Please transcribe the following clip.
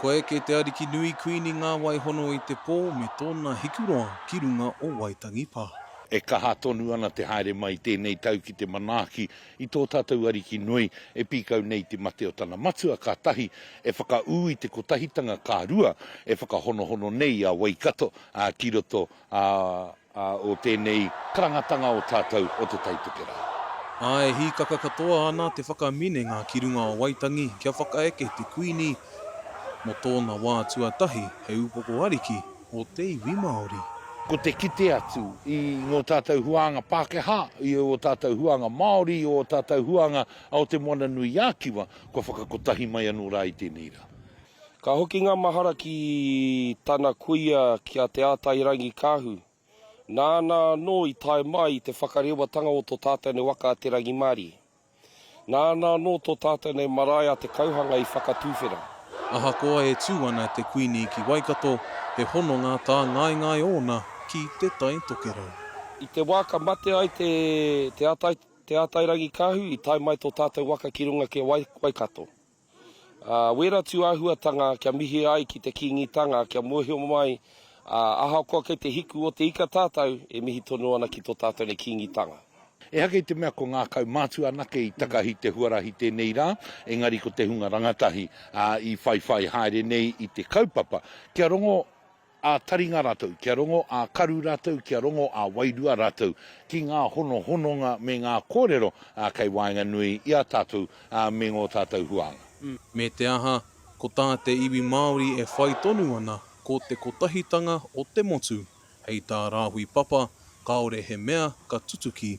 Kua eke te ariki nui Kuini Ngāwaihono i te pō me tōna hikuroa ki runga o Waitangi Pā. E kaha tonu ana te haere mai i tēnei tau ki te manaaki i tō tātou ariki nui e pīkau nei i te mate o tana matua ka tahi e whakaū i te kotahitanga ka rua e whakahonohono nei a Waikato ki roto A o tēnei karangatanga o tātou o Te Tai Tokerau. Ā, e hīkaka katoa ana te whakaminenga ki runga o Waitangi kia whakaeke te Kuini mō tōna wā tuatahi hei upoko ariki o te iwi Māori. Ko te kite atu i ngō tātou huānga Pākehā, i ō tātou huānga Māori, i ō tātou huānga o Te Moana-nui-ā-Kiwa, kua whakakotahi mai anō rā i tēnei rā. Ka hoki ngā mahara ki tana kuia ki a Te Ātairangikaahu, nāna anō i tae mai i te whakarewatanga o tō tātou nei waka a Te Rangimārie. Nāna anō tō tātou nei marae a Te Kauhanga i whakatuwhera. Ahakoa e tū ana te Kuini ki Waikato, he hononga tāngaengae ōna ki Te Tai Tokerau. I te wā ka mate ai Te Ātairangikaahu i tae mai tō tātou waka ki runga ki a Waikato. Ā, wērā tū āhuatanga kia mihi ai ki te Kīngitanga, kia mōhio mai, ā, ahakoa kei te hiku o te ika tātou, e mihi tonu ana ki tō tātou nei Kīngitanga. Ehake i te mea ko ngā kaumātua anake i takahi te huarahi tēnei rā, engari ko te hunga rangatahi, ā, i whaiwhai haere nei i te kaupapa kia rongo Ā-taringa rātou kia rongo, ā-karu rātou kia rongo, ā-wairua rātou ki ngā honohononga me ngā kōrero kei waenganui i a tātou me ngō tātou huānga. Me te aha, ko tā te iwi Māori e whai tonu ana ko te kotahitanga o te motu, hei tā Rāhui Papa, kāore he mea ka tutuki